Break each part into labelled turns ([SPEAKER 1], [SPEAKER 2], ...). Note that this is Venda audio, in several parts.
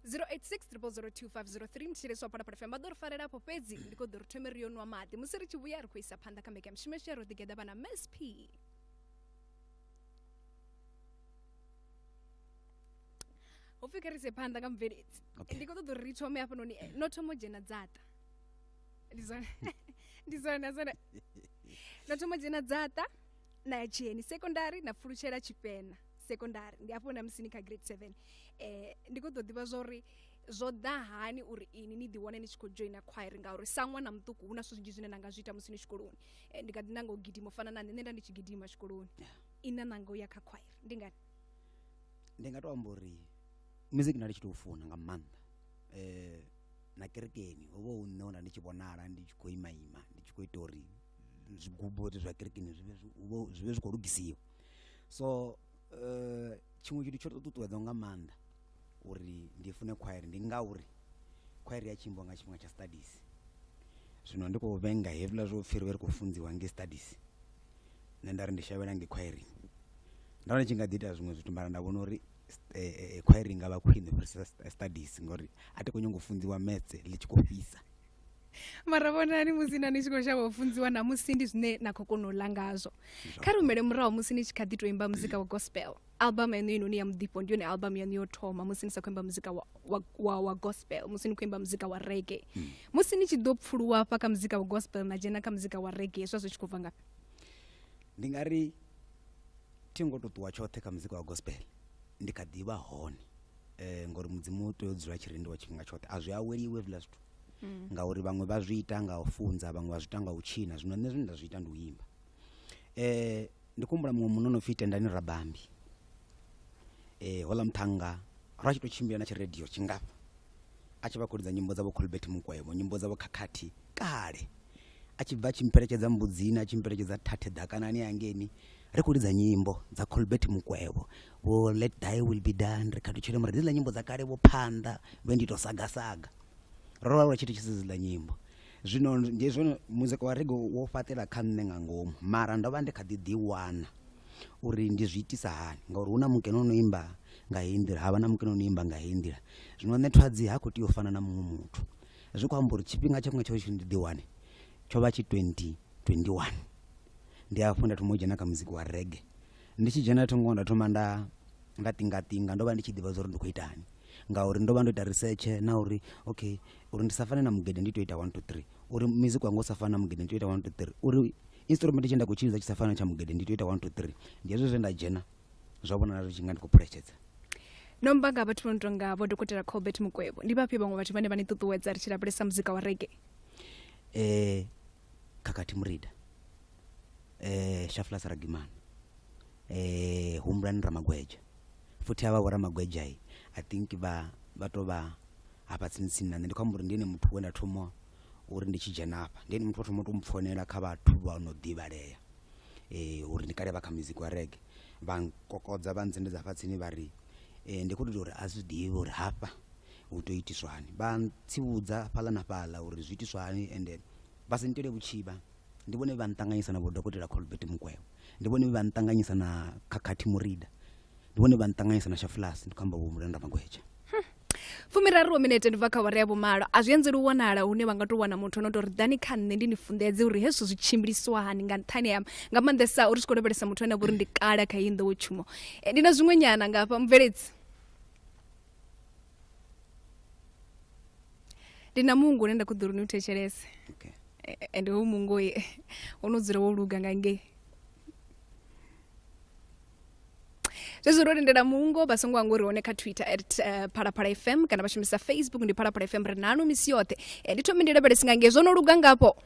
[SPEAKER 1] 086 mutsheleso apana pano fm vha ḓo ri falela afho fhedzi ndi khou ḓo ri thome ri yo nwa maḓi musi ri tshi vhuya ri khou isa phanḓa kha mbekanya mishumo yashu ya ro ḓigeḓa vhana msp ho pfhi kha ri se phanḓa nga mubveledzi Okay. ndi khou ṱoḓa uri ri thome hafhanoni eh, no thoma u dzhena dzaṱa ndi zwone ndi zwone zwone no thoma u dzhena dzaṱa na ya tsheni sekondari na pfulutshela tshipena sekondari ndi afho na musi ni kha grade seven eh, ndi khou ḓo ḓivha zwa uri zwo ḓa hani uri ini ni ḓiwane ni tshi khou joina khwairi ngauri sa ṅwana muṱuku hu na zwithu zwinzhi zwine na nga zwi ita musi ni tshikoloni eh, ndi kha ḓi nanga u gidima u fana na nṋe nṋe nda ndi tshi gidima tshikoloni ina nanga u ya kha khwairi ndi ngani ndi nga tou
[SPEAKER 2] amba uri music nda ndi tshi tou funa nga maanḓa um na kerekeni ho vha hu nṋe we nda ndi tshi vhonala ndi tshi khou ima ima ndi tshi khou ita uri zwigubo zwa kerekeni zwi vhe zwi- hu vhe- zwi vhe zwi khou lugisiwa so um tshiṅwe tshithu tsho tou ṱuṱuwedzaho nga maanḓa uri ndi fune khwairi ndi ngauri khwairi ya tshimbiwa nga tshifhinga tsha studies zwino ndi khou vhenga hezwiḽa zwo pfhi ri vhe ri khou funziwa ngei studies nṋe nda ri ndi shavhela ngei khwaireng ndo vha ndi tshi nga ḓi ita zwiṅwe zwithu mara nda vhona uri khwairi i nga vha khwine u fhirisa studies ngori a thi khou nyanga u funziwa maths ḽi tshi khou fhisa
[SPEAKER 1] mara vhonani musi na ni tshi khou shavha u funziwa namusi ndi zwine na khou kona u ḽa ngazwo kha ri humele murahu musi ni tshi kha ḓi tou imba muzika wa gospel album yaṋu heinoni ya muḓifho ndi yone album yaṋu yo thoma musi ni sa khou imba muzika wa, wa, wa, wa gospel musi ni khou imba muzika wa rege mm. musi ni tshi ḓo pfuluwa hafha kha muzika wa gospel na dzhena kha muzika wa rege hezwa zwi tshi khou bva ngafhi ndi nga
[SPEAKER 2] ri thi ngo to ṱuwa tshoṱhe kha muzika wa gospel ndi kha ḓivha hone eh ngori mudzimu u tea u dzula tshirindi wa tshifhinga tshoṱhe a zwi aweliwe hezwiḽa zwithu mm. ngauri vhaṅwe vha zwi ita nga u funza vhaṅwe vha zwi ita nga u tshina zwino nṋe zwine nda zwi ita ndi u imba eh ndi kumbula muṅwe munna no pfi tendani rabambi eh hola muṱhannga ra tshi to tshimbila na tshiradio tshingafha a tshi vha khou lidza nyimbo dza vho colbert mukwevho nyimbo dza vho khakhathi kale a tshi bva a tshi mpheletshedza mbudzini a tshi mpheletshedza thathe ḓakanani hangeni ri khou lidza nyimbo dza colbert mukwevho vho let thy will be done ri khathutshele mara dziḽa nyimbo dza kale vho phanḓa vhe ndi to sagasaga ro vha lwa tshithu tshisi dziḽa nyimbo zwino ndi zwone muzika wa rege wo fhaṱela kha nṋe nga ngomu mara ndo vha ndi kha ḓi ḓiwana uri ndi zwi itisa hani ngauri hu na mukene o no imba nga heyi nḓila ha vha na mukene o no imba nga heyi nḓila zwino nṋe thwadzi ha khou tea u fana na muṅwe muthu zwi khou amba uri tshifhinga tsha kunga tsho tshi ndi ḓiwane tsho vha tshi 2021 ndi afho nda thoma u dzhena kha muzika wa rege ndi tshi dzhena thongo nda thoma nda nda tingatinga ndo vha ndi tshi ḓivha zwa uri ndi khou itani ngauri ndo vha ndo ita research na uri okay uri ndi sa fane na mugede ndi to ita 1 to 3 uri music wanga u sa fane na mugede ndi to ita 1 to 3 uri instrument tshe nda khou tshilidza tshi sa fane na tsha mugede ndi to ita 1 to 3 ndi hezwo zwe nda dzhena zwa vhonala zwi tshi nga ndi khou phuletshedza no mba
[SPEAKER 1] nga vhathu vho no tonga vho dokotela colbert mukwevho ndi vhafhio vhaṅwe vhathu vhane vha ni ṱuṱuwedza ri tshi lavhelesa muzika wa rege eh
[SPEAKER 2] khakhathi murida eh shaflas ragimana eh humbulani ramagweja futhi havha vhoramagweja i i think vha vha to vha hafha tsini tsini na nṋe ndi khou amba uri ndi ene muthu we nda thoma uri ndi tshi dzhena hafha ndi ene muthu o thoma u to mpfonela kha vhathu vha no ḓivhalea eh uri ndi kale vha kha music wa rege vha nkokodza vha ntsendedza hafha tsini vha ri eh ndi khou tou uri a zwi ḓivhi uri hafha Hu tea u itiswa hani? Vha ntsivhudza fhaḽa na fhaḽa uri zwi itiswa hani ende vha si nitele vhutshivha. Ndi vhone vhe vha nṱanganyisa na Vho Dokotela Colbert Mukwevho. Ndi vhone vhe vha nṱanganyisa na Khakhathi Murida. Ndi vhone vhe vha nṱanganyisa na Shafulasi, ndi khou amba Vho Mulanda Magweja.
[SPEAKER 1] Fumiraru minete ndi bva kha awara ya vhumalo. A zwi anzeli u wanala hune vha nga tou wana muthu o no tou ri ḓani kha nṋe ndi ni funḓedze uri hezwi zwi tshimbiliswa hani nga nṱhani ha nga maanḓesa uri tshi khou lavhelesa muthu ane a vha uri ndi kale kha heyi nḓowetshumo. Eh, Ndi na zwiṅwenyana nga hafha mubveledzi. ndi na mungu une nda khou ḓori ni u thetshelese okay. E,
[SPEAKER 2] e, ende hoyu mungu
[SPEAKER 1] oye o no dzula wo luga nga ngei zwezwo ro lindela mungo vha songo hanga uri hone kha twitter at uh, phalaphala fm kana vha shumisa facebook ndi phalaphala fm ri nanu misi yoṱhe e, ndi thome ndi lavhelesi nga ngei zwo no luga ngapo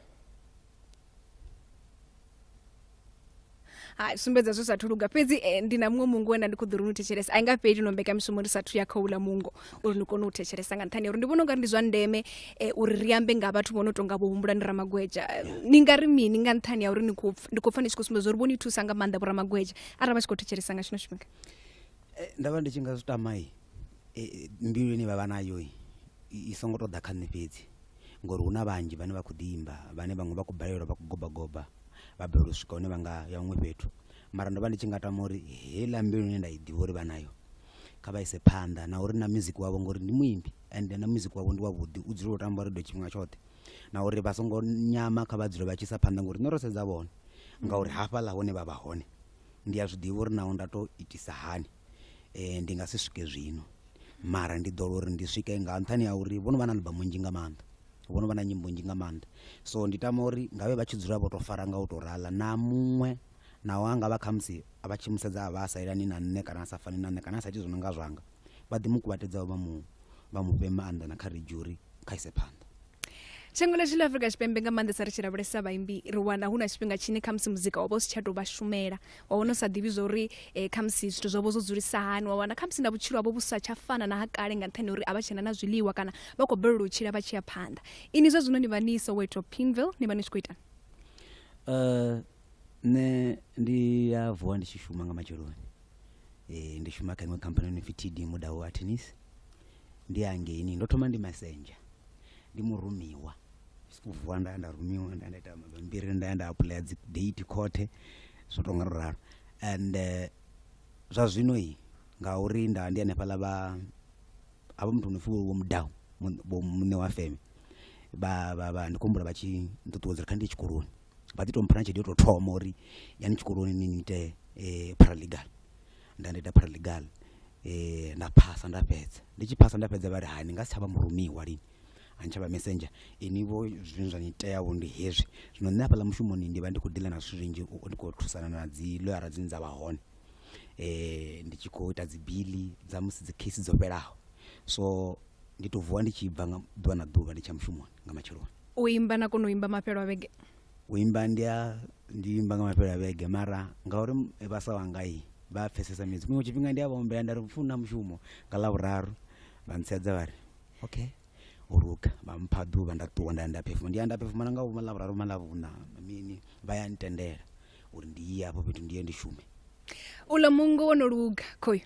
[SPEAKER 1] hai sumbedza zwi sathu luga fhedzi eh, ndi na muṅwe mungo wena ndi khou ḓo ri ni thetshelesa a i nga fheli no mbekamishumo ri sathu ya khouḽa mungo uri ni kone u thetshelesa nga nṱhani uri ndi vhona u nga ri ndi zwa ndeme eh, uri ri ambe nga vhathu vho no tonga vho humbula ndi ramagweja Eh, ni nga ri mini nga nṱhani ya uri ni khou pf- ndi khou pfa ni tshi khou sumbedza uri vho ni thusa nga maanḓa vho ramagweja arali vha tshi khou thetshelesa nga tshino tshifhinga Eh, nda
[SPEAKER 2] vha ndi tshi nga zwi tamai mbiluni vha vha nayo i- i songo tou ḓa kha nṋe fhedzi ngori hu na vhanzhi vhane vha khou ḓi imba vhane vhaṅwe vha khou balelwa vha khou gobagoba vha balelwa u swika hune vha nga ya huṅwe fhethu mara ndo vha ndi tshi nga tama uri heiḽa mbilu ine nda i ḓivha uri vha nayo kha vha ise phanḓa na uri na music wavho ngori ndi muimbi and na music wavho ndi wavhuḓi u dzula u tamba redio tshifhinga tshoṱhe na uri vha songo nyama kha vha dzule vha tshi isa phanḓa ngori nṋe ro sedza vhone ngauri hafhaḽa hune vha vha hone Ndi a zwi ḓivha uri naho nda tou itisa hani, ndi nga si swike zwino. Mara ndi ḓo lwa uri ndi swike nga nṱhani ha uri vho no vha na aḽbamu nnzhi nga maanḓa, vho no vha na nyimbo nnzhi nga maanḓa. So ndi tama uri nga vhe vha tshi dzula vho tou fara nga u tou rala na muṅwe naho a nga vha khamusi vha tshi mu sedza a vha a sa elani na nṋe kana a sa fani na nṋe kana a sa iti zwo no nga zwanga. vha ḓi mu kuvhatedzaho vha mu vha mu fhe maanḓa na kha redzhuri kha ise phanḓa shango ḽashu
[SPEAKER 1] ḽa afurika tshipembe nga maanḓesa ri tshi lavhelesa vhaimbi ri wana hu na tshifhinga tshine khamusi muzika wa vha u si tsha tou vha shumela wa wana u sa ḓivhi zwa uri um khamusi zwithu zwavho zwo dzulisa hani wa wana khamusi na vhutshilo havho vhu sa tsha fana na ha kale nga nṱhani uri a vha tshena na zwiḽiwa kana vha khou balelwa u tshila vha tshi ya phanḓa ini zwa zwino ni vha ni soweto pinville ni vha ni tshi khou itani um nṋe
[SPEAKER 2] ndi a vuwa ndi tshi shuma nga matsheloni e, ndi shuma kha iṅwe khamphani no pfi td mudau atenis ndi hangeini ndo thoma ndi messenger ndi murumiwa sikuvuwa nda nda rumiwa nda nda ita mabambiri nda nda apuḽaya dzi date khothe zwo tonga ro ralo and eh, zwa zwino i ngauri nda ndi hanefhaḽa vha havha muthu no pfi vho mudau mun- vho muṋe wa feme vha vha vha ndi khou humbula vha tshi nṱuṱuwedza uri kha ndi ye tshikoloni vha ḓi to mpha na tshelede yo tou thoma uri yani tshikoloni ni ni ite eh, paralegal nda nda ita paralegal eh, nda phasa nda fhedza ndi tshi phasa nda fhedza vha ri hani nga si tsha vha murumiwa lini a ni tsha vha messenger ini vho zwine zwa ni tea vho ndi hezwi zwino nṋe hafhaḽa mushumoni ndi vha ndi khou dealer na zwithu zwinzhi u- ndi khou thusana na dzi loyara dzine dza vha hone eh ndi tshi khou ita dzibili dza musi dzi case dzo fhelaho so ndi to vuwa ndi tshi bva nga ḓuvha na ḓuvha ndi tsha mushumoni nga matsheloni u imba na kona u
[SPEAKER 1] imba mafhelo a vhege u imba ndi
[SPEAKER 2] a ndi imba nga mafhelo a vhege mara ngauri m- vhasa wanga i vha a pfesesa midzi kuṅwe tshifhinga ndi a vhaombela nda ri funa mushumo nga lavhuraru vha ntsedza vha ri okay u luga vha mpha ḓuvha nda ṱuwa nda ya nda phefuma ndi ya nda phefuma na nga vhuma lavhuraru ma lavhuna mini vha ya ntendela uri ndi ye afho fhethu ndi ye ndi shume uḽa mungo
[SPEAKER 1] wo no luga khoyu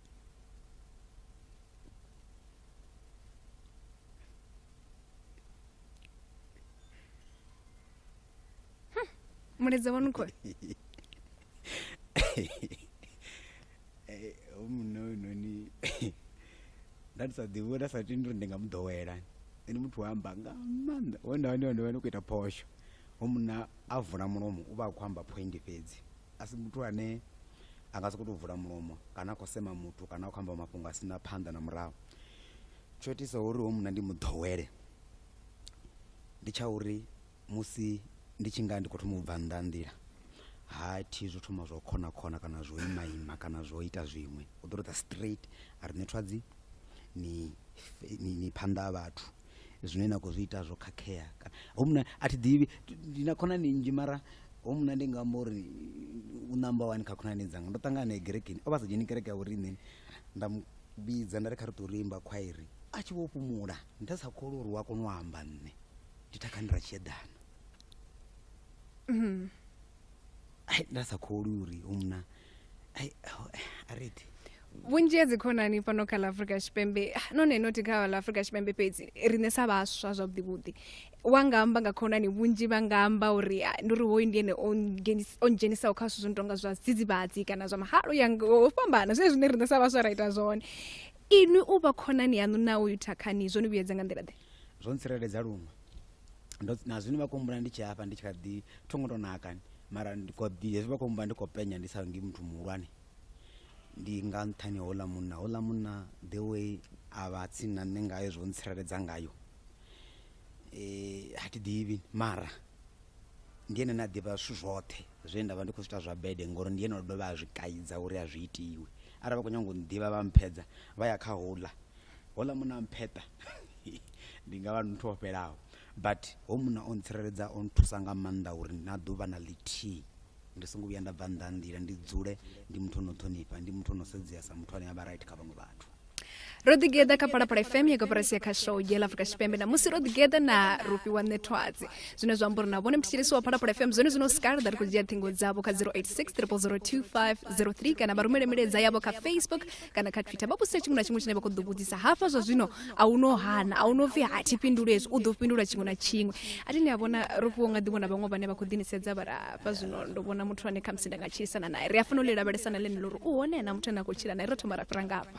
[SPEAKER 1] mulaedza wanu khou
[SPEAKER 2] Eh, o munna uyu noni nda ndi sa ḓivhi uri nda sa tendi uri ndi nga mu ḓowela ene muthu wa amba nga maanḓa wenda wani wani wani u khou ita phosho o munna a vula mulomo u vha a khou amba phoindi fhedzi a si muthu ane a nga sokou tou vula mulomo kana a khou sema muthu kana a khou amba mafhungo a si na phanḓa na murahu tsho itisa uri ho munna ndi mu ḓowele ndi tsha uri musi ndi tshi nga ndi khou thoma u bva nnḓa nḓila ha thi zwo thoma zwo khona khona kana zwo ima ima kana zwo ita zwiṅwe u ḓo tou ḓa straight a ri nṋe thwadzi ni ni phanḓa ha vhathu zwine na khou zwi ita zwo khakhea kana hoyu munna a thi ḓivhi ndi na khonani nnzhi mara hoyu munna ndi nga amba uri u namba wani kha khonani dzanga ndo ṱangana nae gerekeni o vha sa dzheni kereke ya vhoriṋe nda mu vhidza nda ri kha ri tou rimba khwairi a tshi vho fhumula nda sa kholi uri wa kona u amba nṋe ndi takhani ra tshiedana nda sa kholi uri hoyu munna ariti vhunzhi
[SPEAKER 1] ha dzikhonani fhano kha ḽa afrika tshipembe ah, none noti kha ḽa afrika tshipembe fhedzi riṋe sa vhaswa zwavhuḓivhuḓi wa nga amba nga khonani vhunzhi vha nga amba uri ah, ndi uri hoyu ndi ene o dzhenisaho kha zwithu zwo no tonga zwa dzidzivhadzi kana zwa mahalo ya ho fhambana zwine zwine riṋe sa vhaswa ra ita zwone inwi u vha khonani yaṋu na uyu thakhani zwo ni vhuyedza nga nḓila ḓe zwo ntsireledza
[SPEAKER 2] luṅwe na zwino vha kumbula ndi tshi hafha ndi tshi kha ḓi thongo tou nakani mara ndi kho ḓi hezwi vha khou mba ndi khou penya ndi sa ngi muthu muhulwane ndi nga nṱhani houḽa munna houḽa munna the way a vha tsini na nṋe ngayo zwo ntsireledza ngayo um ha thi ḓivhi mara ndi ene ne a ḓivha zwithu zwoṱhe zwe nda vha ndi khou zwi ita zwa bede ngori ndi ene o dovha a zwi kaidza uri a zwi itiwe arali vha khou nyanga u nḓivha vha mphedza vha ya kha houḽa hola muna mpheṱa ndi nga vha ndi muthu o fhelaho but ho muna o ntsireledza o nthusa nga maanḓa uri na ḓuvha na ḽithihi ndi songo vhuya nda bva nnḓa ha nḓila ndi dzule ndi muthu ono ṱhonifha ndi muthu ono sedzea sa muthu ane a vha right kha vhaṅwe vhathu ro ḓigeḓa
[SPEAKER 1] kha palapala fm ya koporasi ya khashow dzhela afrika tshipembe namusi ro ḓigeḓa na rufhi wa ṋethwadzi zwine zwa amba uri na vhone mthetshelesi wa palapala fm zwone zwino skarda ri khou dzhia ṱhingo dzavho kha 086 3002503 kana vha rumele milaedza yavho kha facebook kana kha twitter vha vhudzise tshiṅwe na tshiṅwe tshine vha khou ḓo vhudzisa hafha zwa zwino a u no hana a u no pfi ha thi fhinduli hezwi u ḓo fhindula tshiṅwe na tshiṅwe a thi ni a vhona ro fhiwo nga ḓivhona vhaṅwe vhane vha khou ḓinisedza vha hafha zwino ndo vhona muthu ane khamusi nda nga tshilisana naye ri a fanela u ḽi lavhelesa na ḽenelo uri u hone na muthu ane a khou tshila naye ro thoma ra fhira ngafha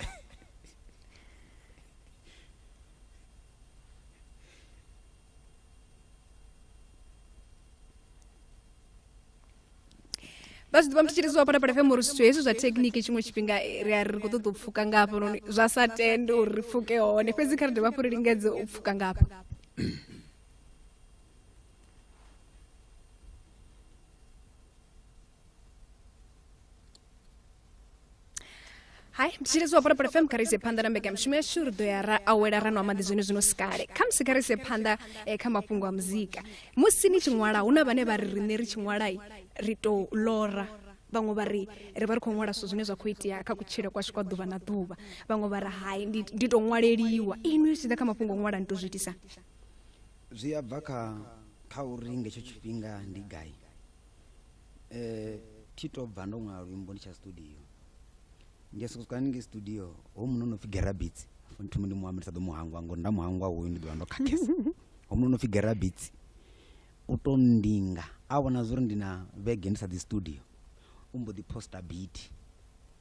[SPEAKER 1] vha zwi ḓivha muthu tshiri zwa pata pata fema uri zwithu hezwi zwa thekhiniki tshiṅwe tshifhinga ri a ri khou ṱoḓa u pfuka nga hafhanoni zwa sa tende uri ri pfuke hone fhedzi kha ri dovha hafhu ri lingedze u pfuka nga hafha hai ndi tshi lidziwa phalaphala fm kha rise phanḓa na mbekanyamushumo yashu ri ḓo ya ra awela ra nwa maḓi zwino zwino sikale kha musi kha rise phanḓa eh, kha mafhungo a muzika musi ni tshi ṅwala hu na vhane vha ri riṋe ri tshi ṅwalai ri tou lora vhaṅwe vha ri ri vha ri khou ṅwala zwithu zwine zwa khou itea kha kutshile kwashu kwa ḓuvha na ḓuvha vhaṅwe vha ri hai ndi ndi tou ṅwaleliwa inwi zwi tshi ḓa kha mafhungo o ṅwala ni tou zwi itisa
[SPEAKER 2] zwi a bva kha kha uri ngetsho tshifhinga ndi gai eh, thi to bva ndo ṅwala luimbo ndi tsha studio ndi soko swika haningei studio ho muno no pfi gerabits thumi ndi muambi ndi sa ḓo muhangwa ngori nda muhangwa hoyu ndi ḓovha ndo khakhesa ho muno no pfi gerabits u to ndinga a vhona zwori ndi na vhege ndi sa ḓi studio u mbo ḓi posta biti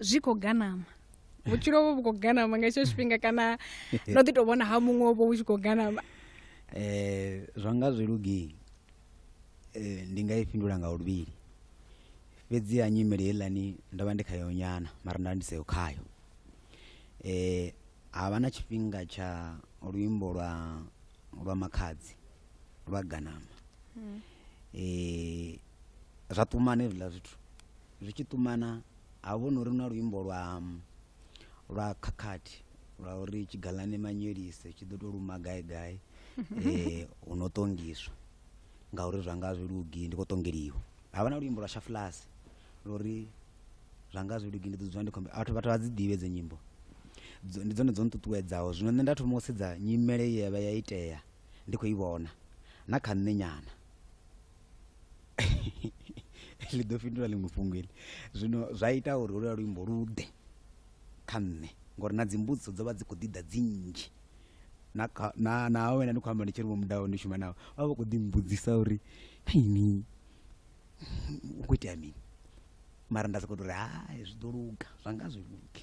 [SPEAKER 2] zwi
[SPEAKER 1] khou ganama vhutshilo vho vhu khou ganama nga hetsho tshifhinga kana no ḓi tou vhona ha muṅwe vho vhu tshi khou ganama um
[SPEAKER 2] zwa nga zwi lugii eh, ndi nga i fhindula nga luvhili fhedzi ha nyimele heiḽani ndo vha ndi khayo nyana mara nda ndi seyo khayo um ha vha na tshifhinga tsha luimbo lwa lwa makhadzi lwa ganama um zwa ṱumana hezwiḽa zwithu zwi tshi ṱumana ha vho no ri na luimbo lwa lwa khakhathi lwa uri tshigalane manyelise tshi ḓo to luma gai gai eh hu no tongiswa ngauri zwa nga zwi lugi ndi khou tongeliwa havha na luimbo lwa shafulasi lori zwa nga zwi lugi ndi ḓo dzula ndi khombe vhathu vhathu vha dzi ḓivhe dzi nyimbo Dzo- ndi dzone dzo nṱuṱuwedzaho zwino nṋe nda thoma u sedza nyimele ye yavha ya itea ndi khou i vhona na kha nṋe nyana ḽi ḓo fhindula ḽiṅwe fhungo iḽi zwino zwa ita uri holuya luimbo lu ḓe kha nṋe ngori na dzimbudziso dzo vha dzi khou ḓi ḓa dzi nnzhi na kha na na wena ndi khou amba ndi tshi ri vho mudaho ndi shuma navho vha vha vha khou ḓi mbudzisa uri ini hu khou itea mini mara nda sokou tou ri hai zwi ḓo luga zwa nga zwi luge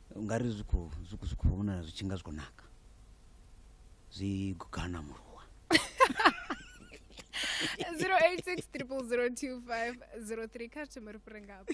[SPEAKER 2] ungari zwi khou zwi khou- zwi khou vhonala zwi tshi nga zwi khou naka zwi gugana muruwa
[SPEAKER 1] 0860002503 kha thome ri fhire ngafha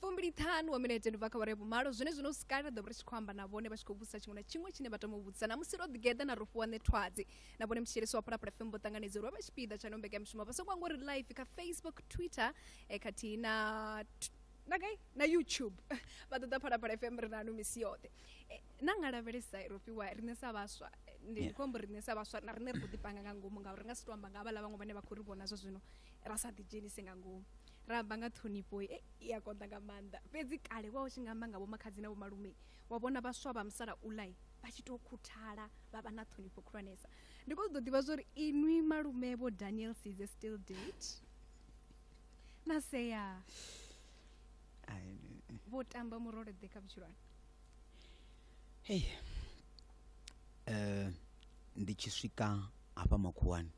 [SPEAKER 1] fumbiliṱhanu wa minete ndi bva kha vhare vhumalo zwine zwino sikala ḓo vha ri tshi khou amba na vhone vha tshi khou vhudzisa tshiṅwe na tshiṅwe tshine vha tama u vhudzisa namusi ro ḓigeḓa na ro fhiwa ṋethwadzi na vhone mtshielisi wa phalaphala fm vho ṱanganedza uri vha vha tshipiḓa tsha no mbekamishumo vha songo angori live kha facebook twitter eh, khathihi na na gai na youtube vha ṱoḓa phalaphala fm ri nanu misi yoṱhe Eh, na nga lavhelesa ro fhiwa riṋe sa vhaswa ndi yeah. khombo riṋe sa vhaswa na riṋe ri khou ḓipanga nga ngomu ngauri ri nga si to amba nga havhala vhaṅwe vhane vha khou ri vhona zwa zwino ra sa ḓidzhenise nga ngomu ra amba nga ṱhonifho e i a konḓa nga maanḓa fhedzi kale wa u tshi nga amba nga vhomakhadzi na vhomalume wa vhona vhaswa vha musala ulai vha tshi tou khuthala vha vha na ṱhonifho khulwanesa ndi khou ṱoḓa ḓivha zwori inwi malume vho daniel size still date na sea vho tamba murole ḓe kha vhutshilwane
[SPEAKER 2] Hei ndi tshi swika hafha makhuwani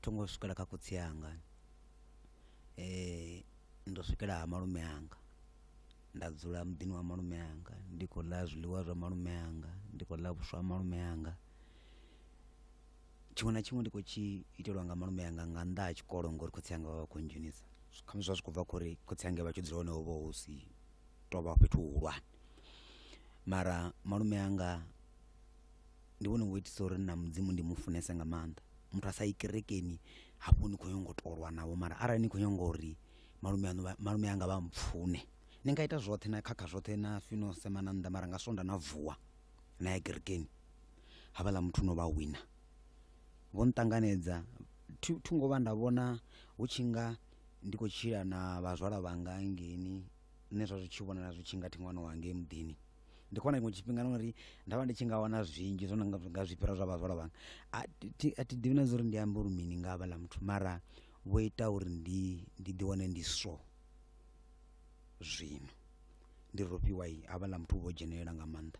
[SPEAKER 2] tho ngo swikela kha khotsi anga ndo swikela ha malume anga nda dzula muḓini wa malume anga ndi khou ḽa zwiḽiwa zwa malume anga, ndi khou ḽa vhuswa ha malume anga. Tshiṅwe na tshiṅwe ndi khou tshi itelwa nga malume anga nga nnḓa ha tshikolo ngori khotsi anga vha vha khou ndzhenisa, khamusi zwa zwi khou bva kha uri khotsi anga vha tshi dzula hone ho vha hu si tou vha fhethu huhulwane mara malume anga ndi vhone vho itisa uri na mudzimu ndi mu funese nga maanḓa muthu a sa yi kerekeni hafho ni khou nyanga u tolwa navho mara arali ni khou nyanga uri malume aṋu vha- malume anga vha mpfune ni nga ita zwoṱhe na khakha zwoṱhe na fino sema na nnḓa mara nga swonda na vuwa na ya kerekeni havhaḽa muthu no vha wina vho nṱanganedza thi thi ngo vha nda vhona hu tshi nga ndi khou tshila na vhazwala vhanga hangeini nṋe zwa zwi tshi vhonala zwi tshi nga thi ṅwana wa ngei muḓini ndi khou wana tshiṅwe tshifhinga na uri nda vha ndi tshi nga wana zwinzhi zwo no nga nga zwi fhira zwa vhazwala vhanga a thi- thi- a thi ḓivhi na zwa uri ndi ambe uri mini nga havhaḽa muthu mara vho ita uri ndi ndi ḓi wane ndi so zwino ndi rofhiwa havhaḽa muthu u vho dzhenelela nga maanḓa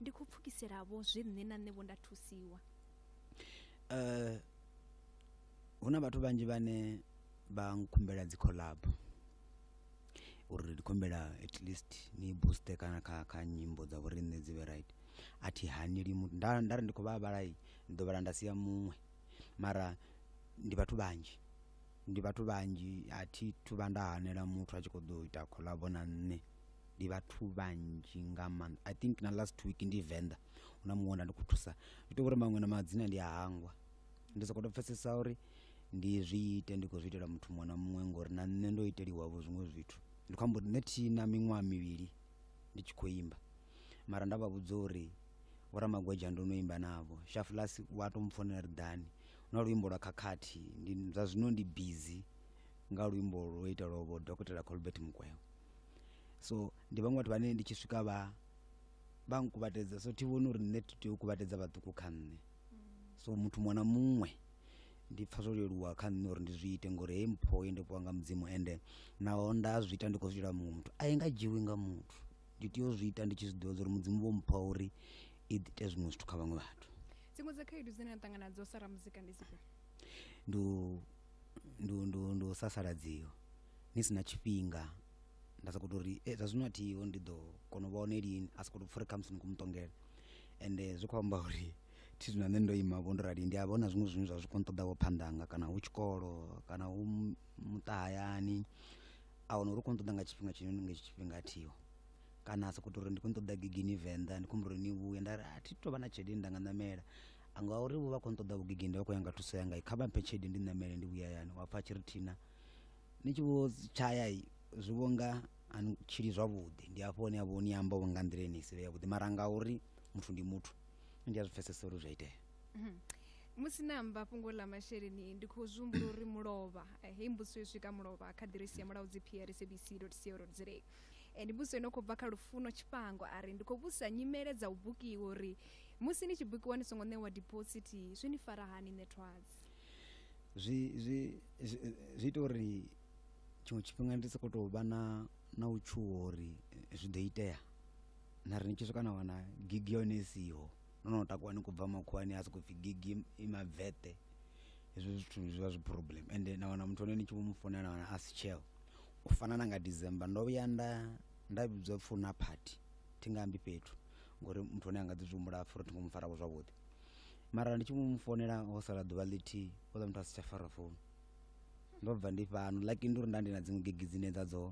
[SPEAKER 1] ndi khou pfukisela-vho zwe nṋe na nṋe-vho nda thusiwa.
[SPEAKER 2] Eh, hu na vhathu vhanzhi vhane vha nkhumbela dzi collab uri ndi khumbela at least ni booster kana kha kha nyimbo dza vhori nṋe dzi vhe right a thi haneli muthu nda nda ri ndi khou vha vhalai ndi ḓo vhala nda sia muṅwe mara ndi vhathu vhanzhi ndi vhathu vhanzhi a thi thu vha nda hanela muthu a tshi khou ḓo ita collab na nṋe ndi vhathu vhanzhi nga maanḓa i think na last week ndi venḓa hu na muṅwe nda ndi khou thusa ndi tou uri maṅwe na madzina ndi a hangwa ndi sokou tou pfesesa uri ndi zwi ite ndi khou zwi itela muthu muṅwe na muṅwe ngori na nṋe ndo iteliwavho zwiṅwe zwithu ndi khou amba uri nṋe thi na miṅwaha mivhili ndi tshi khou imba mara nda vha vhudza uri vhoramagweja ndo no imba navho shafulas wa tou mpfonela ri ḓani na luimbo lwa khakhathi ndi zwa zwino ndi busy nga luimbo lwo itelwa vho dokotela colbert mukwevho so ndi vhaṅwe vhathu vhane ndi tshi swika vha vha nkuvhatedza so thi vhoni uri nṋe tea u kuvhatedza vhaṱuku kha nṋe so muthu muṅwe na muṅwe ndi pfa zwo leluwa kha nṋe uri ndi zwi ite ngori hei mpho ye ndo fhiwa nga mudzimu ende naho nda zwi ita ndi khou zwi itela muṅwe muthu a i nga dzhiwi nga muthu ndi tea u zwi ita ndi tshi zwi ḓivha zwa uri mudzimu vho mpha uri i ite zwiṅwe zwithu kha vhaṅwe vhathu dziṅwe dza khaedu dzine
[SPEAKER 1] na ṱangana nadzo sa ramuzika ndi dzifhio ndi u-
[SPEAKER 2] ndi u- ndi u- ndi u sasaladziwa ni si na tshifhinga nda sokou tou ri e zwa zwino a thiho ndi ḓo kona u vha hone lini a sokou tou pfha uri khamusi ni khou mu ṱongela ende zwi khou amba uri thi zwino nṋe ndo ima vho ndo rali ndi a vha hu na zwiṅwe zwine zwa zwi khou nṱoḓavho phanḓa hanga kana hu tshikolo kana hu muṱa hayani a wana uri u khou nṱoḓa nga tshifhinga tshine nga hetsho tshifhinga a thiho kana a sokou tou uri ndi khou nṱoḓa gigini venḓa ndi khou humbula uri ni vhuye nda ri a thi tou vha na tshelede nda nga ṋamela ngauri vho vha khou nṱoḓa vhugigini nda vha khou ya nga thuso yanga kha vha mphe tshelede ndi ṋamele ndi vhuye hayani wa pfha a tshi ri thina ni tshi vho tshaya zwi vho nga a ni tshili zwavhuḓi ndi hafho hune a vho ni amba nga nḓila ine si vhe yavhuḓi mara nga uri muthu ndi muthu ndi a zwi pfesesa uri zwi a itea mhm.
[SPEAKER 1] musi na amba fhungo ḽa masheleni ndi khou zwi humbula uri mulovha eh, hei mbudziso yo swika mulovha kha ḓiresi ya mulaudzi prcbc co za eh, ndi mbudziso ino khou bva kha lufuno tshifhango a ri ndi khou vhudzisa nyimele dza u bukiwa uri musi ni tshi bukiwa ni songo ṋewa dipositi zwi ni fara hani ṋethwadzi zwi
[SPEAKER 2] zwi zwi ita uri tshiṅwe tshifhinga ndi sokou tou vha na na u tshuwa uri zwi ḓo itea na ri ni tshi swika na wana gigi yone i siho no no takuwa ni khou bva makhuwani a sokou pfhi gigi i mabvete hezwo zwithu zwi vha zwi problem ende na wana muthu ane ni tshi vho mu founela na wana a si tsheo u fana na nga december ndo vhuya nda nda vhidzwa pfhi hu na party thi nga ambi fhethu ngori muthu ane a nga ḓi zwi humbula pfhi ro thi ngo mu farako zwavhuḓi mara ndi tshi mu founela ho sala ḓuvha ḽithihi o ḽa muthu a si tsha fara founu ndo bva ndi fhano lucky ndi uri nda ndi na dziṅwe gigi dzine dza dzo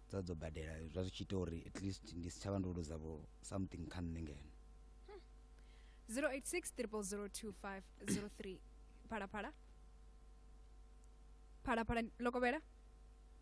[SPEAKER 2] dza dzo badela zwa zwi tshi ita uri at least ndi si tsha vha ndo luza vho something kha nṋe ngeno 086 002503
[SPEAKER 1] phalaphala phalaphala lokovhela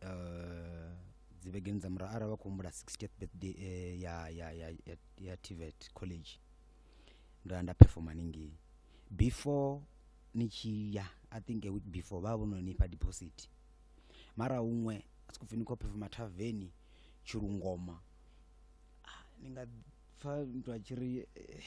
[SPEAKER 2] eh, dzivhegeni dza murahu arali vha khou humbula 60th birthday eh, ya, ya, ya, ya, ya tvet college ndo ya nda performa haningei before ni tshi ya i think a week before vha vha vho no nifha deposit mara huṅwe a si khou pfi ni khou performa thaveni tshilungoma Ah, ni nga pfa muthu a tshi ri eh,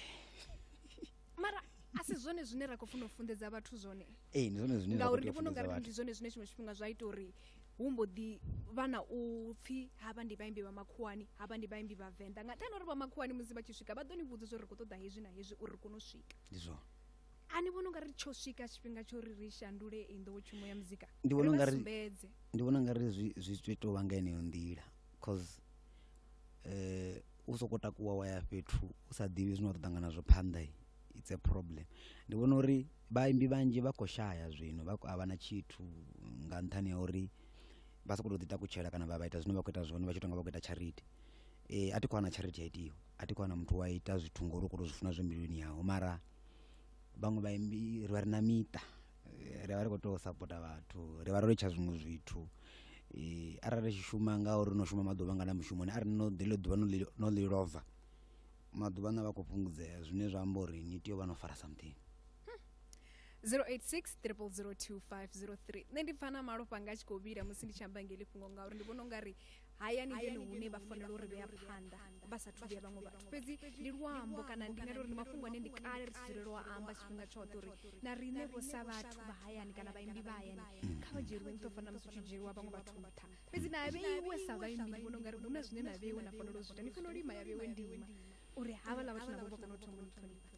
[SPEAKER 1] mara a si zwone zwine ra khou funa u funḓedza vhathu zwone ee ndi zwone zwine ngauri
[SPEAKER 2] ndi vhona ungari ndi
[SPEAKER 1] zwone zwine tshiṅwe tshifhinga zwa ita uri hu mbo ḓi vha na u pfhi havha ndi vhaimbi vha makhuwani havha ndi vhaimbi vha venḓa nga nṱhani uri vha makhuwani musi vha tshi swika vha ḓo ni vhudza uri ri khou ṱoḓa hezwi na hezwi uri ri kone u swika ndi zwone
[SPEAKER 2] a ni vhona ungari
[SPEAKER 1] tsho swika tshifhinga tsho ri ri shandule i nḓowetshumo ya muzika ndi vhona ungari
[SPEAKER 2] ndi vhona ungari zwi zwi tou vha nga yeneyo nḓila cause eh u soko takuwa wa ya fhethu u sa ḓivhi zwine wa ḓo ṱangana zwo phanḓa i- it's a problem ndi vhona uri vhaimbi vhanzhi vha khou shaya zwino vha khou- a vha na tshithu nga nṱhani ha uri vha sokou tou ḓi takutshela kana vha vha ita zwine vha khou ita zwone vha tshi tonga vha khou ita charity eh a thi khou wana charity ya itiwa a thi khou wana muthu wa ita zwithu ngori u khou tou zwi funa zwi mbiluni yaho mara vhaṅwe vhaimbi ri vha ri na miṱa ri vha ri khou tea u sapota vhathu ri vha ro litsha zwiṅwe zwithu um arali ri tshi shuma nga uri no shuma maḓuvha ngana mushumoni arali no ḽeḽo ḓuvha no ḽi no ḽi lova maḓuvha aṋu a vha khou fhungudzea zwine zwa amba uri ni tea u vha no fara something 086 002503
[SPEAKER 1] nṋe ndi pfa na malofha anga a tshi khou vhila musi ndi tshi amba ngeli fhungo ngauri ndi vhona ungari haya ni hone hune vha fanela uri vhea phanḓa vha sa thu vhuya vhaṅwe vhathu fhedzi ndi luambo kana ndi ngari uri ndi mafhungo ane ndi kale ri si dzulele u amba tshifhinga tshoṱhe uri na riṋe vho sa vhathu vha hayani kana vhaimbi vha hayani kha vha dzhieliwe nṱha fana musi u tshi dzhieliwa vhaṅwe vhathu nṱha fhedzi na vheiwe sa vhaimbi ndi vhona ungari hu na zwine na vheiwe na fanela u zwi ita ni fanela u ima ya vheiwe ndima uri havha ḽa vhathu navho vha kone u thoma u ṱhonifha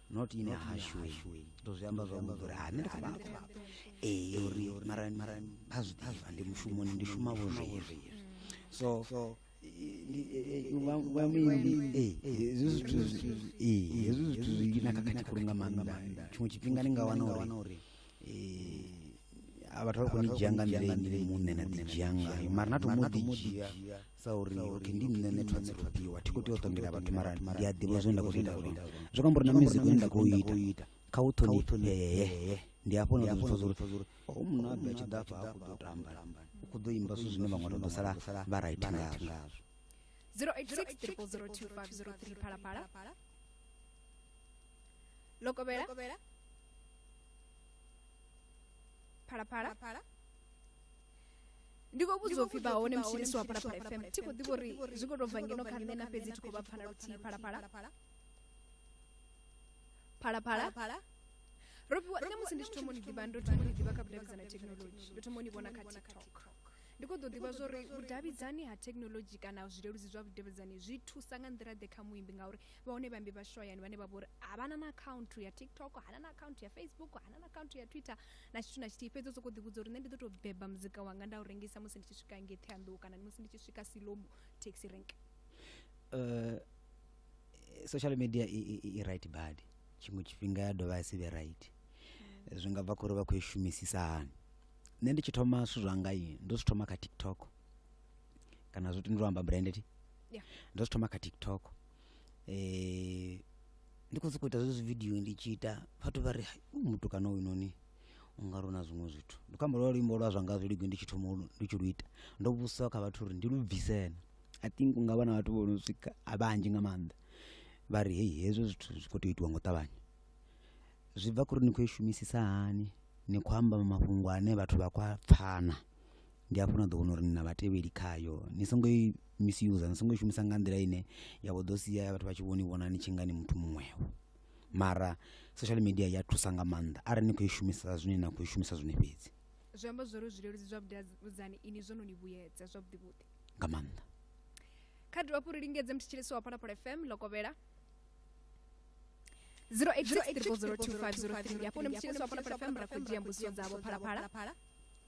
[SPEAKER 2] not ine hashwe ndo zwi amba zwavhuḓi uri ha nṋe ndi kha vhapo ee uri mara mara vha zwi ḓivha ndi mushumoni ndi shuma vho zwezwi so wa muimbi hezwi zwithu hezwi zwithu zwi na khakhathi khulu nga maanḓa tshiṅwe tshifhinga ni nga wana uri vhathu vha khou ni dzhia nga nḓila ine muṋe na ḓi dzhia ngayo mara na to mu ḓi dzhia sa uri okay ndi nṋe ne thwa tsiropiwa thi khou tea u ṱongela vhathu mara ndi a ḓivha zwine nda khou zwi ita zwone zwi khou amba uri na music une nda khou u ita kha u ṱhonifhee ndi hafho na zwithu zwa uri o munna a bva tshi ḓa afha a khou ḓo tamba u khou ḓo imba zwithu zwine vhaṅwe vha ḓo sala vha right ngazwo 086 0002503
[SPEAKER 1] phalaphala lokovhela phalaphala ndi khou vhudza upfhi vha hone mutshilisi wa phalaphala fm thi khou ḓivha uri zwi khou tou bva ngeno kha nṋe na fhedzi thi khou vha pfana luthihi phalaphala phalaphala ro fhiwa nṋe musi ndi tshi thoma ni ḓivha ndo thoma ni ḓivha kha vhudavhidzani ha thekhinolodzhi ndo thoma ni vhona kha tiktok ndi khou ḓo ḓivha zwori vhudavhidzani ha thekhinolodzhi kana zwileludzi zwa vhudavhidzani zwi thusa nga nḓila ḓe kha muimbi ngauri vha hone vhaimbi vha shoyani vhane vha vha uri havhana na akhaunthu ya tiktok hana na akhaunthu ya facebook hana na akhaunthu ya twitter na tshithu na tshithihi fhedzi u sokou ḓivhudza uri nṋe ndi ḓo tou beba muzika wanga nda u rengisa musi ndi tshi swika ngei ṱheanḓou kana musi ndi tshi swika silomo taxi rank
[SPEAKER 2] uh, social media i,
[SPEAKER 1] i, i right
[SPEAKER 2] bad tshiṅwe tshifhinga ya dovha ya si vhe right mm. zwi nga bva khori vha khou i shumisisa hani nṋe ndi tshi thoma zwithu zwanga i ndo zwi thoma kha tiktok kana zwo tendeliwa amba branded yeah. ndo zwi thoma kha tiktok eh, ndi khou sokou ita zwezwi vidio ndi tshi ita vhathu vha ri u mutukana uyu noni u nga rona zwiṅwe zwithu ndi khou amba lwa luimbo lwa zwa nga zwi ligi ndi tshi thoma ndi tshi lu ita ndo vhudzisa kha vhathu uri ndi lu bvisena i think u nga vha na vhathu vho no swika a vhanzhi nga maanḓa vha ri hei hezwo zwithu zwi khou tea itiwa ngo ṱavhanya zwi bva kha uri ni khou i shumisisa hani ni khou amba mafhungo ane vhathu vha khou a pfana ndi hafho na ḓo wana uri ni na vhatevheli khayo ni songo i misuse ni songo i shumisa nga nḓila ine ya vho ḓo sia vhathu vha tshi vhoni vhona ni tshi nga ni muthu muṅwevho mara social media ya thusa nga maanḓa arali ni khou i shumisa zwine na khou i shumisa zwone fhedzi zwi amba zwori
[SPEAKER 1] zwileludzi zwa vhudavhidzani ini zwo no ni vhuyedza zwavhuḓi vhuḓi nga maanḓa
[SPEAKER 2] kha
[SPEAKER 1] dovha hafhu ri lingedze mthetshelesi wa phalaphala fm lokovhela 08 ndi hafho ndi mthetshelesi wa phalaphala fm ra khou dzhia mbudziso dzavho phalaphala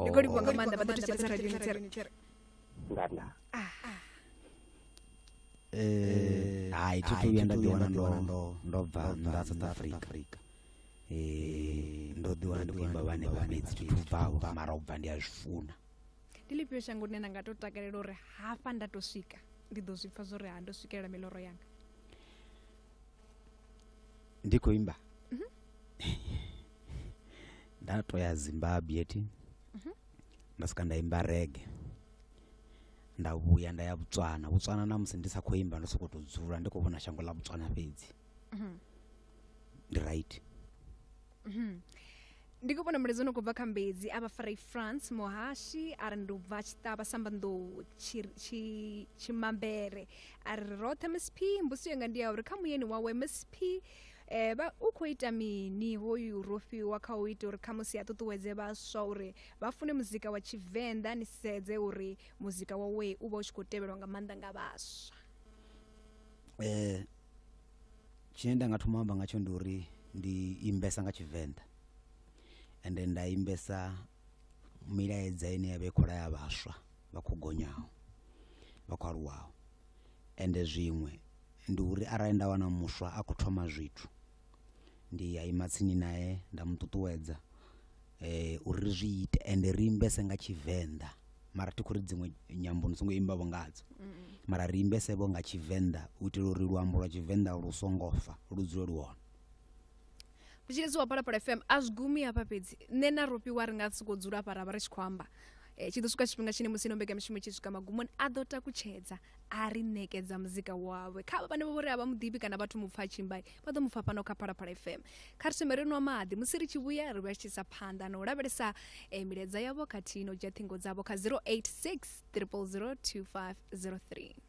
[SPEAKER 1] ndi khou livhuwa nga maanḓa vha ḓo thusa thusa radio ni tsere
[SPEAKER 2] nganda Eh, hai thi thu vhuya nda ḓiwana ndo ndo bva nnḓa ha south africa Eh, ndo ḓiwana ndi khou imba vhane vha fhedzi thi thu bvaho mara u bva ndi a zwi funa ndi lifhio
[SPEAKER 1] shango ḽine nda nga to takalela uri hafha nda to swika ndi ḓo zwi pfa zwo ri ha ndo swikelela miloro yanga
[SPEAKER 2] ndi khou imba nda to ya zimbabwe eti nda swika nda imba rege nda vhuya nda ya botswana botswana na musi ndi sa khou imba ndo sokou tou dzula ndi khou vhona shango ḽa botswana fhedzi ndi right
[SPEAKER 1] ndi khou vhona mulaedza no khou bva kha mbedzi a vha farai france muhashi a ri ndi u bva tshiṱavha sambanḓou tshimambere a ri roṱhe msp mbusi yanga ndi ya uri kha muyeni wawe msp eh ba u khou ita mini hoyu rofhiwa kha u ita uri khamusi a ṱuṱuwedze vhaswa uri vha fune muzika wa tshivenḓa ni sedze uri muzika wawe u vha u tshi khou tevhelwa nga maanḓa nga vhaswa um
[SPEAKER 2] tshine nda nga thoma amba ngatsho ndi uri ndi imbesa nga tshivenḓa ende nda imbesa milaedza ine ya vha i khou laya vhaswa vha khou gonyaho vha khou aluwaho ende zwiṅwe ndi uri arali nda wana muswa a khou thoma zwithu ndi a ima tsini nae nda mu ṱuṱuwedza eh uri ri zwi ite ende ri imbese nga tshivenḓa mara thi khou ri dziṅwe nyambo ni songo imba vho ngadzo mara ri imbese vho nga tshivenḓa u itela uri luambo lwa tshivenḓa lu songo fa lu dzule lu hone
[SPEAKER 1] vhutshilisi wa phalaphala fm a zwi gumi hafha fhedzi nṋe na rofhiwa ri nga sokou dzula hafha ra vha ri tshi khou amba Eh, tshi ḓo swika tshifhinga tshine musi ino mbekamishumo tshi swika magumoni a ḓo takutshedza a ri nekedza muzika wawe kha vhane vho ri a vha muḓibi kana vhathu mu pfa tshimbai vha ḓo mu pfa fhano kha phalaphala fm kha ri thome ri nwa maḓi musi ri tshi vhuya ri vha tshisa phanḓa na u lavhelesa eh, milaedza yavho khathihi no dzhia ṱhingo dzavho kha 086 000 2503 Hello.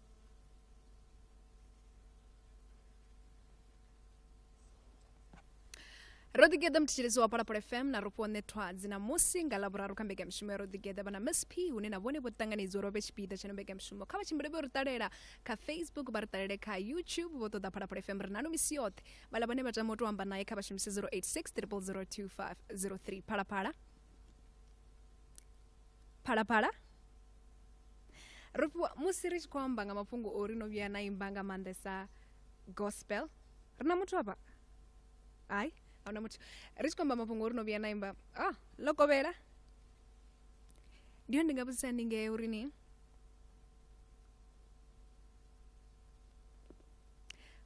[SPEAKER 1] ro ḓigeḓa muthetshelesi wa palapala fm na ro fhiwa ṋethwadzi na musi nga lavhuraru kha mbekanyamushumo ya ro ḓigeḓa vha na msp hune na vhone vho ṱanganedzwa uri vha vhe tshipiḓa tsha no mbekanyamushumo kha vha tshimbile vho ri ṱalela kha facebook vha ri ṱalele kha youtube vho ṱoḓa phalaphala fm ri nalo misi yoṱhe vhala vhane vha tama u tou amba naye kha vha shumise 086 002 503 phalaphala phalaphala ro fhiwa musi ri tshi khou amba nga mafhungo o ri no vhuya na imba nga maanḓesa gospel ri na muthu avha hai ahuna muthu ri tshi khou amba mafhungo o ri no vhuya na imba ah ḽo kovhela ndi hone ndi nga vhudzisa ni ngee uri ni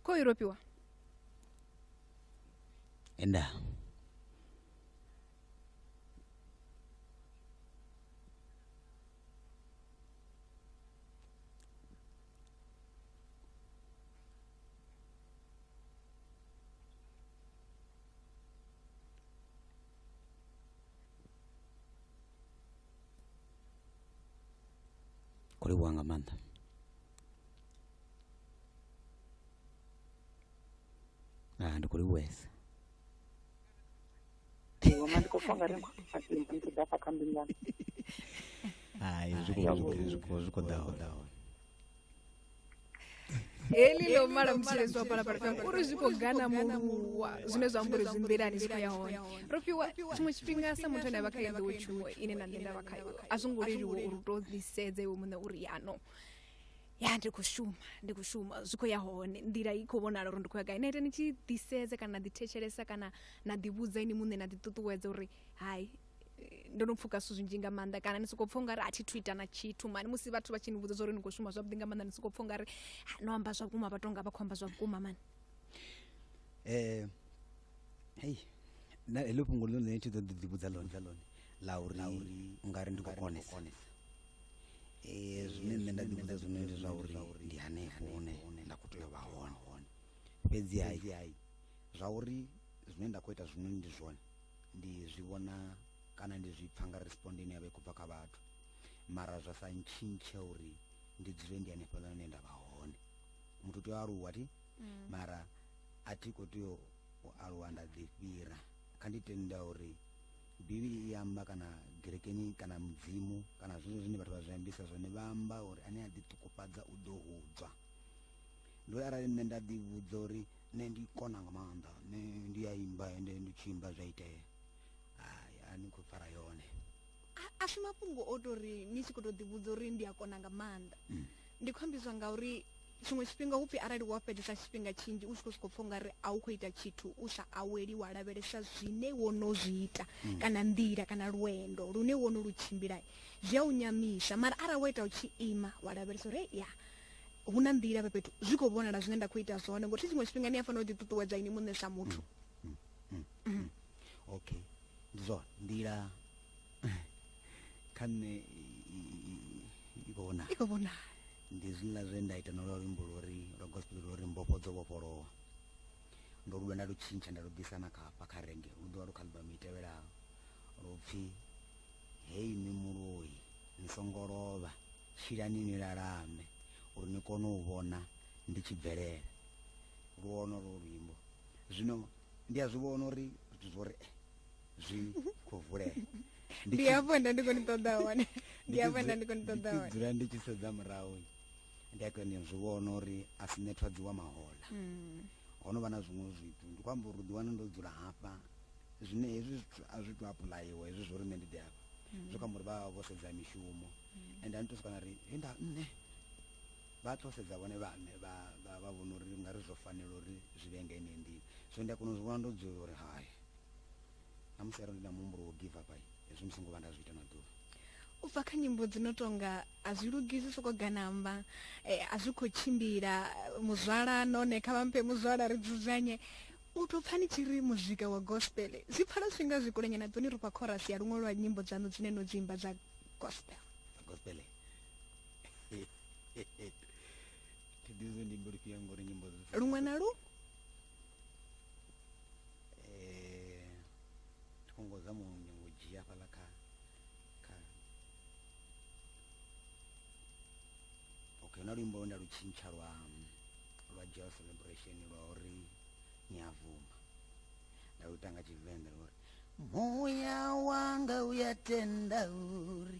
[SPEAKER 1] kho i rofhiwa
[SPEAKER 2] nda khou livhuwa nga maanḓa ah ndi khou livhuwesa
[SPEAKER 3] iwe mandi ko fanga ri ndi ndi da fa kambi ngan hai zwi khou-
[SPEAKER 2] zwi khou- zwi khou- zwi khou ḓa hone
[SPEAKER 1] heli ḽo mala mutshiledzi wa phalaphala fm uri zwi khou gana muluwa zwine zwa amba uri zwi nḓilani zwi khou ya hone ro fhiwa tshiṅwe tshifhinga sa muthu ane a vha kha yenḓowo tshuwo ine na nṋe nda vha khayo a zwo ngo leluwa uri u tou ḓisedze iwe muṋe uri yano ya ndi khou shuma ndi khou shuma zwi khou ya hone nḓila i khou vhonala uri ndi khou ya gai na ita ni tshi ḓisedza kana na ḓithetshelesa kana na ḓivhudza ini muṋe na ḓiṱuṱuwedza uri hai ndo no pfuka zwithu zwinzhi nga maanḓa kana ni sokou pfha ungari a thi thu ita na tshithu mani musi vhathu vha tshi ni vhudza zwa uri ni khou shuma zwavhuḓi nga maanḓa ni sokou pfha ungari no amba zwa vhukuma vha tou nga vha khou amba zwa vhukuma mani um
[SPEAKER 2] hei na heḽo fhungo ḽo ḽine thi ḓo ḓi ḓivhudza ḽone ḽone ḽa uri u nga ri ndi khou konesa Eh, zwine nṋe nda ḓivhudza zwone ndi zwa uri ndi hanefho hune nda khou tea u vha hone fhedzi hai zwa uri zwine nda khou ita zwino ndi zwone ndi zwi vhona kana ndi zwi pfa nga respond ine ya vha i khou bva kha vhathu mara zwa sa ntshintshe uri ndi dzule ndi hanefhaḽa hune nda vha hone muthu u tea u aluwa thi mara a thi khou tea u aluwa nda ḓifhira kha ndi tenda uri bivhili i amba kana gerekeni kana mudzimu kana zwezwo zwine vhathu vha zwi ambisa zwone vha amba uri ane a ḓiṱukufhadza u ḓo hudzwa ndo arali nṋe nda ḓi vhudza uri nṋe ndi kona nga maanḓa nṋe ndi a imba ende ndi tshi imba zwa itea hai a ni khou fara yone a si
[SPEAKER 1] mafhungo o tou ri ni tshi khou tou ḓivhudza uri ndi a kona nga maanḓa mm. ndi khou ambizwa ngauri tshiṅwe tshifhinga hu pfi arali wa fhedzesa tshifhinga tshinzhi u tshi khou sokou pfha ungari a u khou ita tshithu u sa aweli wa lavhelesa zwine wo no zwi ita mm. kana nḓila kana lwendo lune wo no lu tshimbila zwi a u nyamisa mara arali wa ita u tshi ima wa lavhelesa uri ya hu na nḓila fhethu zwi khou vhonala zwine nda khou ita zwone ngori tshiṅwe tshifhinga ni a fanela u ḓiṱuṱuwedza ini muṋe sa muthu mm, mm,
[SPEAKER 2] okay ndi zwone nḓila kha nṋe i khou vhonala i khou vhonala ndi zwiḽa zwe nda ita no lwa luimbo lwori lwa gospel lwori mbofho dzo vhofholowa ndo luvha nda lu tshintsha nda lu bvisa na khafha kha renge lu ḓovha lu kha album i tevhelaho lupfhi hei ni muloi ni songo lovha tshilani ni lalame uri ni kone u vhona ndi tshi bvelela lu ono lwo luimbo zwino ndi a zwi vhona uri zwithu zwo ri eh, zwi khou vulea ndi
[SPEAKER 1] hafho nda ndi khou ni ṱoḓa hone ndi hafho nda ndi khou ni
[SPEAKER 2] ṱoḓa hone dzula ndi tshi sedza murahu ndi a koni zwi vhona uri a si nethwadzi wa mahola hmm. ho no vha na zwiṅwe zwithu ndi khou amba uri ḓi wana ndo dzula hafha zwine hezwi zwithu a zwi to apuḽayiwa hezwi zwo ri nṋe ndi ḓi hafha hmm. zwo kha uri vha vho sedza mishumo hmm. and a ni to swika na ri he nda nṋe vha to sedza vhone vhaṋe vha vha vha vhona uri nga ri zwo fanela uri zwi vhe nga ine ndini so ndi a kona u zwi vhona ndo dzula uri hai na musi arali ndi na muhumbulo wo give up ai hezwi ndi songo vha nda zwi ita na ḓuvha u bva kha
[SPEAKER 1] nyimbo dzi no tonga a zwi lugisi soko ganamba eh, a zwi khou tshimbila muzwala none kha vhamphe muzwala ri dzudzanye u to pfani tshi ri muzika wa gospel zwi pfala zwinga zwi kulenya na ḓoni ri fha chorus ya luṅwe lwa nyimbo dzanu dzine no dzi imba dza gospel gospel
[SPEAKER 2] tidizo ndi mbiri pia ngori nyimbo zvi luṅwe na lu eh tikongo za mu nyongo dzhia fhala kha kha okay na luimbo lwe nda lu tshintsha lwa lwa joy celebration lwa uri ni a vuma nda lu tanga tshivenḓa lwa uri muya wanga uyatenda uri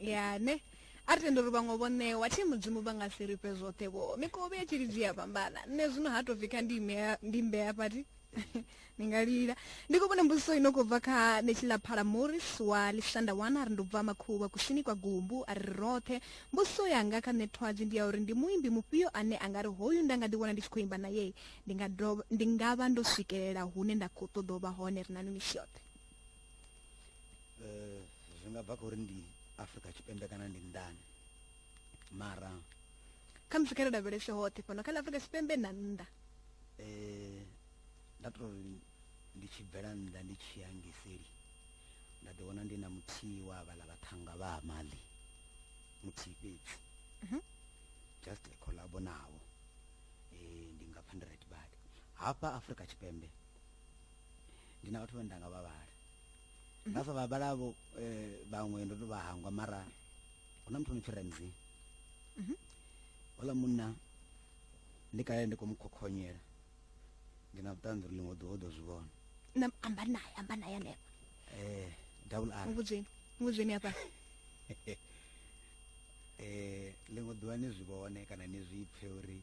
[SPEAKER 1] ya ne a ri tende uri vhaṅwe vho ṋewa thi mudzimu vha nga si ri fhe zwoṱhe vho mikovhe ya tshilidzi ya fhambana nṋe zwino ha tou pfhi kha ndi imea ndi mbea fhati ni nga lila ndi khou vhona mbudziso ino khou bva kha netshila phala morris wa lisanda wana a ri ndo bva makhuvha kusini kwa gumbu a ri roṱhe mbudziso yanga kha nṋe thwadzi ndi ya uri ndi muimbi mufhio ane a nga ri hoyu nda nga ḓi vhona ndi tshi khou imba naye ndi nga dovha- ndi nga vha ndo swikelela hune nda khou ṱoḓa u vha hone ri na no misi yoṱhe
[SPEAKER 2] eh, zwi nga bva kha uri ndi afrika tshipembe kana ndi nnḓani mara
[SPEAKER 1] kha musi kha ri lavhelese hoṱhe fhano kha ḽa afrika tshipembe na nnḓa eh,
[SPEAKER 2] nda to ri ndi tshi bvela nnḓa ndi tshi ya ngeseli nda ḓi wana ndi na muthihi wa vhala vhaṱhanga vha ha mali muthihi fhedzi Mhm. just a collabo navho eh, ndi nga pfa ndi right badi hafha afrika tshipembe ndi na vhathu vhane nda nga vha vhala nda sa vha vhala vho eh, vhaṅwe ndo to vha hangwa mara hu na muthu no pfi ramsey Mhm. ola munna ndi kale ndi khou mu khokhonyela ndi na vhuṱanzi uri ḽiṅwe ḓuvha u ḓo zwi vhona na amba naye
[SPEAKER 1] amba naye hanefha um
[SPEAKER 2] double r muvhudzeni muvhudzeni hafha um ḽiṅwe ḓuvha ni zwi vhone kana ni zwi pfe uri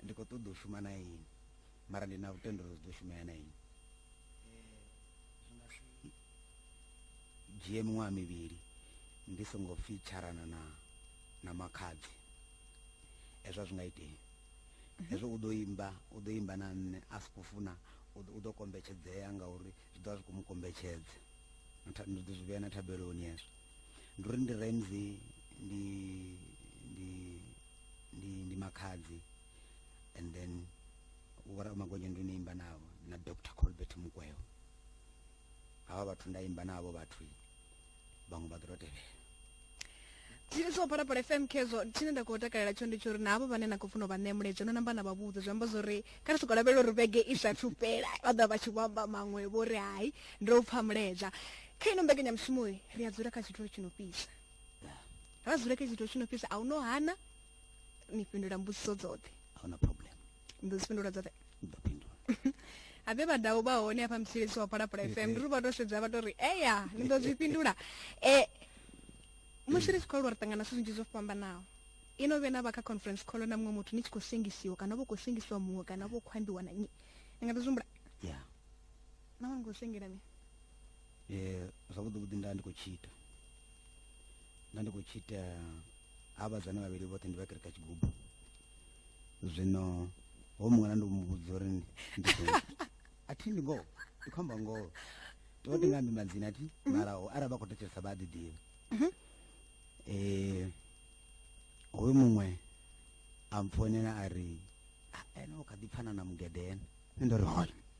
[SPEAKER 2] ndi khou ṱoḓa u shuma na ini mara ndi na lutendo uri zwi ḓo shumea na inwi dzhie miṅwaha mivhili ndi songo pfi tsharana na na makhadzi hezwo zwi nga itei hezwo u ḓo imba u ḓo imba na nṋe a si khou funa u ḓo kombetshedzea ngauri zwi ḓovha zwi khou mu kombetshedza ndi ḓo zwi vhea na thabeloni hezwo ndi uri ndi ramsey ndi ndi ndi ndi makhadzi and then vhora magonya ndo imba navho na dr colbert mukweo hava vhathu nda imba navho vhathu vhaṅwe vha ḓo to tevhela
[SPEAKER 1] tshine tsho phala phala fm khezwo tshine nda khou takalela tsho ndi tsho uri na havho vhane na khou funa u vha ṋea muledzho no namba na vha vhudze zwi amba zwa uri kha ri soko lavhelela uri vhege i sa thupela vha ḓa vha tshi vho amba maṅwe vho ri hai ndo pfha muledzha kha ino mbekanyamushumo ri a dzula kha tshithu tshi no fhisa ra dzula kha tshithu tshi no fhisa a u no hana ni fhindula mbudziso dzoṱhe ahuna problem
[SPEAKER 2] ni ḓo dzi fhindula dzoṱhe
[SPEAKER 1] ni ḓo fhindula
[SPEAKER 2] habe
[SPEAKER 1] vhadau vha hone hafha mutshilisi wa phalaphala fm ndi ri vha to sedza vha to ri eya ni ḓo zwi fhindula um musi ri tshi khou aluwa ri ṱangana zwithu zwinzhi zwo fhambanaho ino vhe na vha kha conference call na muṅwe muthu ni tshi khou sengisiwa kana vho khou sengisiwa muṅwe kana vho khou ambiwa na nnyi ni nga ḓi zwihumbula ya na vha ni khou sengela ni
[SPEAKER 2] um zwavhuḓi vhuḓi nda ndi khou tshi ita nda ndi khou tshi ita ha vhadzana vhavhili vhoṱhe ndi vha kereka tshigubu zwino ho muṅwe na ndi mu vhudza uri a thi ndi ngoho ndi khou amba ngoho to vha tingambi madzina thi mhm. mara arali vha khou thetshelesa vha a ḓiḓivha mhm. eh, um hoyu muṅwe a mpfonela a ri ah, ene u kha ḓi pfana na mugedene ndo ri hone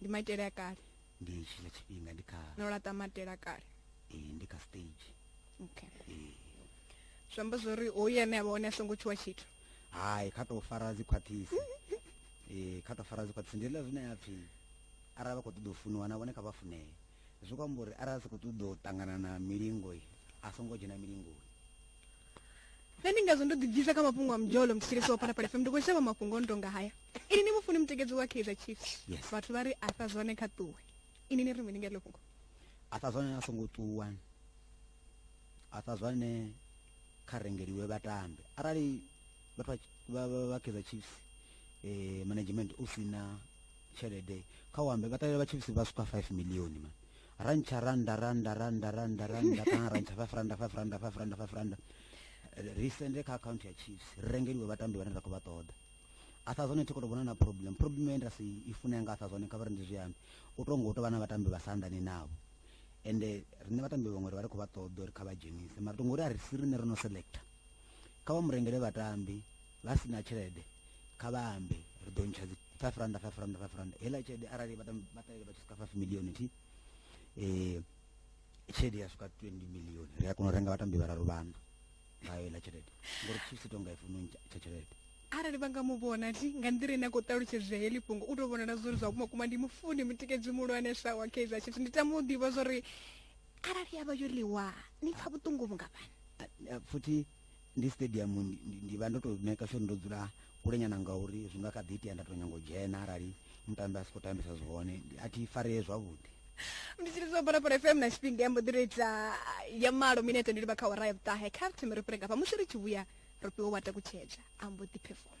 [SPEAKER 1] ndi maitele a kale ndi tshila
[SPEAKER 2] tshifhinga ndi kha no laṱa maitele a
[SPEAKER 1] kale ee ndi kha stage
[SPEAKER 2] okay
[SPEAKER 1] ee zwi amba zwori hoyu ane a vha hone a songo tshuwa tshithu hai kha tou
[SPEAKER 2] fara dzi khwaṱhisi ee kha tou fara dzi khwaṱhisi ndi ḽa zwine ya pfhi arali vha khou ṱoḓa u funiwa na vhone kha vha funee zwi khou amba uri arali a sa khou ṱoḓa u ṱangana na milingo a songo dzhena milingoni
[SPEAKER 1] nṋe ndi ngazwo ndo ḓibvisa kha mafhungo a mdzholo muthetshelesi wa phalaphala fm ndi khou shavha mafhungo no tonga haya ini ni mufuni mutekedzi wa kaizer chiefs Yes. vhathu vha ri a sa zwone kha ṱuwe ini ni ri mini nga heḽo fhungo a sa zwane a
[SPEAKER 2] songo ṱuwa a sa zwane kha rengeliwe vhatambi arali vhathu vha- vha- vha- vha kaizer chiefs eh, management u si na tshelede kha u ambe vha ṱalela vha chiefs vha swika 5 million man rantsha randa randa randa randa randa kana rantsha five randa five randa five randa five randa ri sende kha akhaunthu ya chiefs ri rengeliwe vhatambi vhane ra khou vha ṱoḓa atha zwone thi khou tou vhona na problem problem ye nda si i fune yanga atha zwone kha vha ri ndi zwiambi u tou ngo u tou vha na vhatambi vha sa anḓani navho ende riṋe vhatambi vhaṅwe ri vha ri khou vha ṱoḓa uri kha vha dzhenise mara tongo uri a ri si riṋe ro no selecta kha vha murengele vhatambi vha si na tshelede kha vha ambe ri ḓo ntsha dzi 5 rand 5 rand 5 rand heiḽa tshelede arali vha ṱalele vha tshi swika 5 milioni thi um tshelede ya swika 20 milioni ri a kona u renga vhatambi vhararu vhana ngayo heiḽa tshelede ngori chiefs i tonga i funa tsha tshelede arali vha nga mu
[SPEAKER 1] vhona thi nga nḓila ine a khou ṱalutshedzea heḽi fhungo u tou vhonala zwori zwa vhuma kuma ndi mufuni mutikedzi muhulwane sa wa kaizer chiefs ndi tama u ḓivha zwori arali ya vha yo ḽiwa ni pfa vhuṱungu vhungafhani futhi
[SPEAKER 2] ndi stadium ndi vha ndo to maker sure ndo dzula kule nyana ngauri zwi nga kha ḓi itea nda to nyango dzhena arali mutambi a si khou tambisa zwihone a thi faree zwavhuḓi ndi tshi lidziwa
[SPEAKER 1] balapala fm na tshifhinga ya mbo ḓi ita ya malo minete ndi livha kha wara ya vhuṱahe kha ri thome ri fhirega fha musi ri tshi vhuya ro fhiwa wa takutshedza a mbo ḓi performa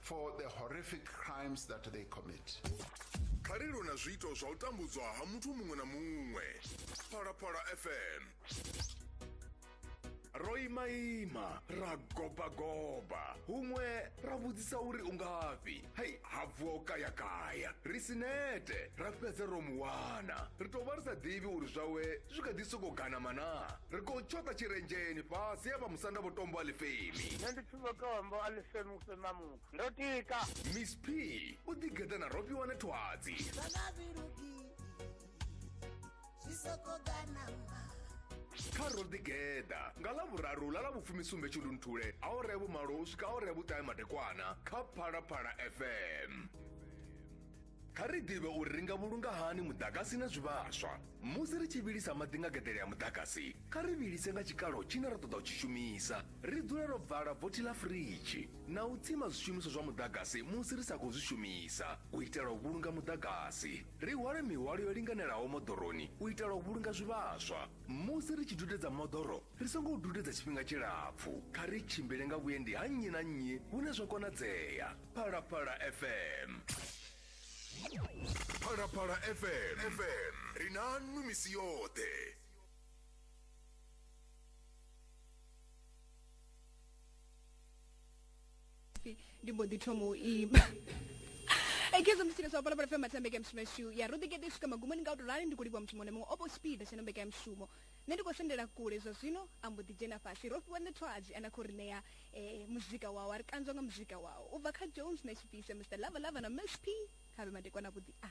[SPEAKER 4] for the horrific crimes that they commit. kha ri lwe
[SPEAKER 5] na zwiito zwa u tambudzwa ha muthu muṅwe na muṅwe phalaphala fm ro imaima ra gobagoba huṅwe ra vhudzisa uri u ngafhi hei ha vuwa u kayakaya ri si nete ra fhedza ro mu wana ri tou vha ri sa ḓivhi uri zwawe zwi kha ḓi sokou ganama na ri khou tshoṱa tshirenzheni fhasi ya vha musanda vho tombo a lifhemi nṋe ndi vhotombo a
[SPEAKER 6] ḽi senuse na muthu ndo tika miss p
[SPEAKER 5] u ḓigeḓa na ropi wane thwadzi kha ro ḓigeḓa nga ḽa vhuraru ḽa ḽa vhufumisumbe tshundunthule a o rea vhumalo u swika a o rea vhuṱahe madekwana kha phalaphala fm Kha ri ḓivhe uri ri nga vhulunga hani muḓagasi na zwivhaswa. Musi ri tshi vhilisa maḓi nga geḓele ya muḓagasi, kha ri vhilise nga tshikalo tshine ra ṱoḓa u tshi shumisa. Ri dzule ro vala vothi ḽa firidzhi na u tsima zwishumiswa zwa muḓagasi musi ri sa khou zwi shumisa u itela u vhulunga muḓagasi. Ri hwale mihwalo yo linganelaho moḓoroni u itela u vhulunga zwivhaswa. Musi ri tshi dudedza moḓoro, ri songo u dudedza tshifhinga tshilapfu kha ri tshimbile nga vhuendi ha nnyi na nnyi hune zwa konadzea phalaphala fm phalaphala fm fm ri na nnu misi yoṱhe
[SPEAKER 1] pfi ndi mbo ḓi thoma u ima ekezo musi leswa pala pala matsambe ke mshumo shu ya rudi kete shuka magumoni nga utorani ndi kulibwa mshumo ne mongwe opo speed shano mbeka mshumo Nṋe ndi khou sendela kule zwa zwino, a mbo ḓi dzhena fhasi. Ro fhiwa ṋethwadzi, a na khou ri ṋea e, muzika wawe, a ri kanzwa nga muzika wawe. U bva kha Jones na Tshifise, Mister Lava Lava na Miss P, kha vhe madekwana avhuḓi a.